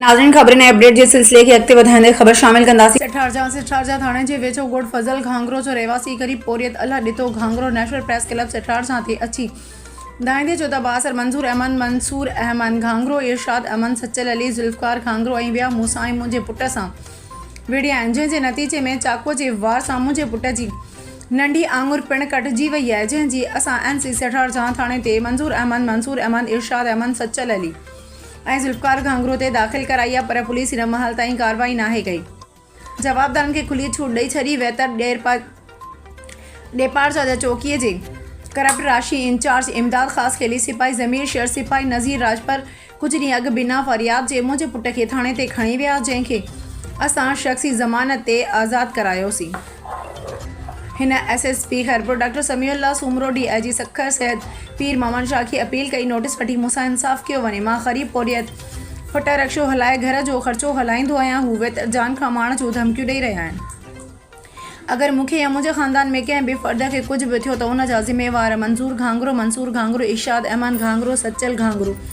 ناظرين خبرن ۽ اپڊيٽ جي سلسلي کي اڳتي وڌائيندي خبر شامل ڪنداسين. سٺارجا، سٺارجا ٿاڻي جي ويجهو ڳوٺ فضل گهانگرو جو رهواسي غريب پورهيت Allah Ditto Ghangro national press club سٺارجا تي اچي ڌائيندي چيو ته بااثر منظور احمد، منصور احمد گهانگرو، ارشاد احمد، سچل علي، ذوالفقار گهانگرو ۽ ٻيا مون سان ۽ منهنجي پٽ سان وڙهيا آهن جنهن جي نتيجي ۾ چاقوء جي وار سان منهنجي پٽ جي ننڍي آڱر پڻ ڪٽجي وئي آهي جنهن جي اسان ايم سي سٺارجا ٿاڻي تي منظور احمد، منصور احمد، ارشاد احمد، سچل علي. ۽ ذوالفقار گهانگهرو تي داخل ڪرائي آهي پر پوليس هن مهال تائين ڪارروائي ناهي ڪئي جوابدارن کي کلي ڇوٽ ڏئي ڇڏي وئي ته ڏيپارچا جا چوڪي جي ڪرپٽ راشي انچارج امداد خاص خيلي سپاهي ضمير شر سپاهي نذير راڄپر ڪجهه ڏينهن اڳ بنا فرياد جي منهنجي پٽ کي ٿاڻي تي کڻي ويا جنهن کي اسان شخصي ضمانت تي آزاد ڪرايوسين. هن S S P Khairpur doctor Sami Ullah Soomro, D I G Sukkur Syed Pir Muhammad Shah کي اپيل ڪئي نوٽيس وٺي مون سان انصاف ڪيو وڃي، مان غريب پورهيت پٽ رڪشو هلائي گهر جو خرچو هلائيندو آهيان هو ويتر جان کان مارڻ جون ڌمڪيون ڏئي رهيا آهن، اگر مون کي يا منهنجي خاندان ۾ ڪنهن به فرد کي ڪجهه به ٿيو ته ان جا ذميوار منظور گهانگرو، منصور گهانگرو، ارشاد احمد گهانگرو، سچل گهانگرو.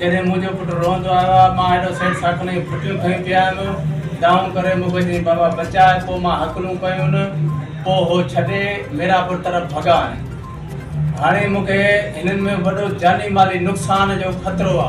جڏهن منهنجو پٽ روئندو آيو آ، مان هيڏو سيٽ ساڪن جون ڦٽيون کنيون پيا هيم. دانهون ڪري مون کي چيائين، بابا بچاء! پوء مان هڪلون ڪيون. پوء هو ڇڏي ميراپور طرف ڀڳا آهن. هاڻي مون کي هنن ۾ وڏو جاني مالي نقصان جو خطرو آ.